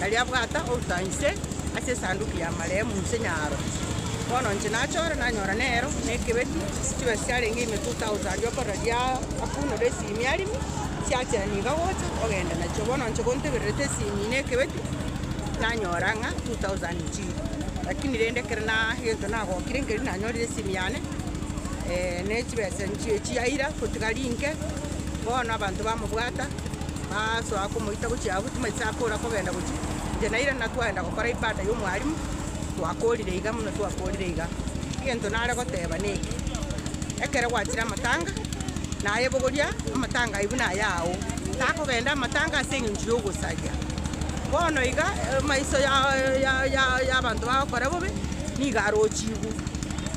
nario abwata outa inse ase esanduki y'amarehemu inse nyaro. Bono inche nachora, nanyora nero nekebeti, chibesa chiarenge ime 2,000 okorora riria akunure esimi arimo, chiachera niga gocha, ogenda nachio. Bono inche gontebererete esimi na ekebeti, nanyora ng'a 2,000 nchiire. Lakini rende ekero na egento nagokire nkeria nanyorire esimi yane, ne chibesa nchio chiaira, gotiga rinke, bono abanto bamobwata. Bagasoa komoita gochia agwo, timanyeti sakora kogenda gochia. Inche na Irene twagenda gokora ibada y'omwalimu, twakorire iga buna twakorire iga. Egento nare goteba neke, ekero gwachire amatanga, nayebogoria amatanga ayio buna aya ao, takogenda amatanga ase eng'encho y'ogosaria. Bono iga emaiso y'abanto bagokora bobe nigo arochigwe.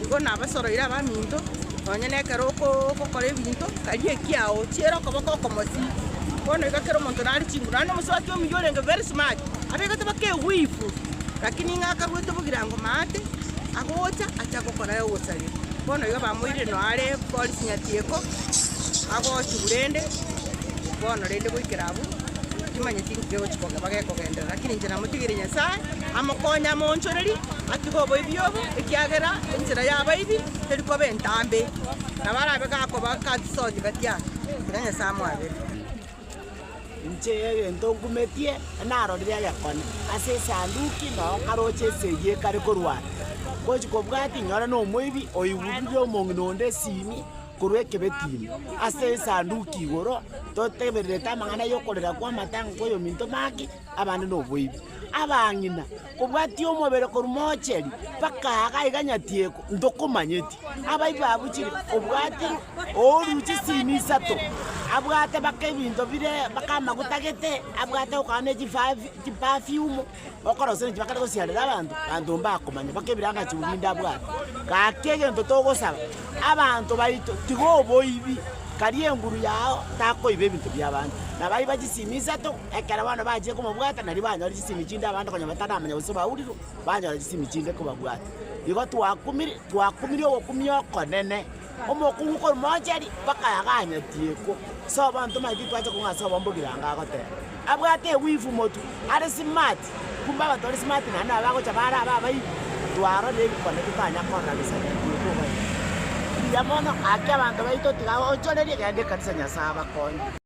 Igo nabasoroire abaminto, nonye nekero ogokora ebinto. Karia ekiao, chiera okoboko okomosi. Bono iga kera omonto nare chinguru, naende omosubati omuya orenge very smart abegete mpaka ewivu, lakini ng'a akaruete bogirango maate, agocha acha gokora ogosaria. Bono iga bamoirire no are bori sinyati eko, agochigwa rende, bono rende goikera abwo, timanyeti nki kegochi koge bagekogenderera, lakini inche namotigeire Nyasae amokonye amoonchorerie atige oboibi obo, ekiagera enchera y'abaibi teri koba entambe. Nabo arabe gakoba gatisooki batia, Tiga Nyasae amwabere. Inche egento nkumetie, narorire egekone ase esanduki, na nkaroche ase eyio ekare korwa are. Ngochia kobua tinyore nomoibi oigururire omong'ina onde esimi korwa ekebetini ase esanduki igoro, totebererete amang'ana yokorera kw'amatanga kw'oyominto make. abande noboibi. Abang'ina, kobwatia omobere korwa moocheri mpaka aaga iga nyatieko, ntokomanyeti. Abaibi abwo chire, obwati ooru chisimi isato, abwate mpaka ebinto bire mpaka amaguta gete, abwate gokora ne chifafi chipafiumu, okorosia ne chibakare gosiarera abanto, abanto mbakomanya mpaka ebiranga chibwe binde abwate. Gaki egento togosaba, abanto baito tiga oboibi, karia enguru yao takoiba ebinto biabande. Nabaiba chisimi isato. Ekero bono bachire komobwata, nario banyore chisemi chinde abanto konya bataramanya gose baurirwe, banyora chisemi chinde kobabwata. Igo twakumire, twakumirie ogokumia okonene, omokungu korimocheri bakaya ganyetiekwo. Ase abanto manye titwacha kong'a ase obombe ogirango agoteba, abwate ewivu motu, are smart, kumbe abanto bare smart naende nabo bagocha bare abe abaibu, twarorire ebikone totanya korora gese gatiekwa oboiyo. Mbuya mono, gaki abanto baito tiga ochoreria, genda ekanisa Nyasae abakonye.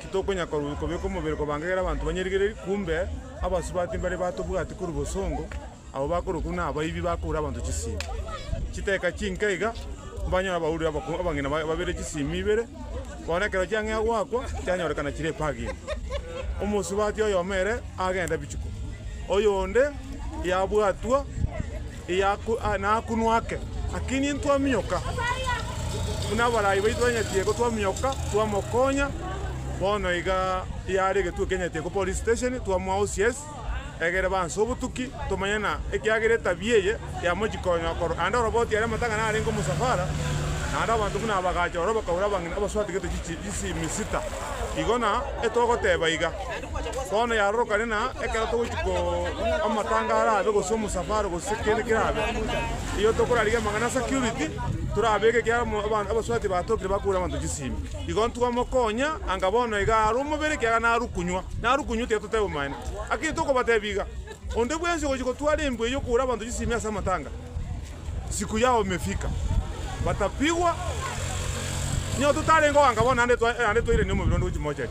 Titokonya korwa kobeka omobere kobange ekero abanto banyarigereiri, kumbe abasubati mbare batobwati korwa bosongo, abwo bakorwa korwa nabaibi bakora abanto chisimi. Chiteka chinke iga, mbanyore abauri abako- abang'ina ba- babere chisimi ibere, bono ekero chiang'ea goakwa, chianyorekana chire epagima. Omosubati oyomo ere agenda bichuko, oyonde yabwatwa nakunwa ake, lakini intwaminyoka, buna abarai baito banyatige ko twaminyoka, twamokonya, bono iga yare egetuo kianyatige ko police station, twamoa OCS, egere banse obotuki, tomanye na ekiagera etabia eye yamochi konya okoro, naende oroboti aria amatang'ana arenge omosafara, naende abanto buna abagacha ororo bakaura abang'ina abaswatigete chichi chisimisita, igo na etogoteba iga. Bono yarorokane na ekero togochia ko amatanga arabe gose omosafaro gose kende kerabe, igo tokorarigia amang'ana ase security, torabeke ekiagera mo aba abaswati batokire bakure abanto chisimi. Igo ntwamokonya anga bono iga are omobere ekiagera narukunywa, narukunywa tiga toteba omaene. Lakini tokobatebia iga, onde bwensi ogochia gotwara embwa eywo okure abanto chisimi ase amatanga, siku yao imefika, batapigwa, nigo totarenge oganga bono naende twa naende twairania omobere onde gochia mochari.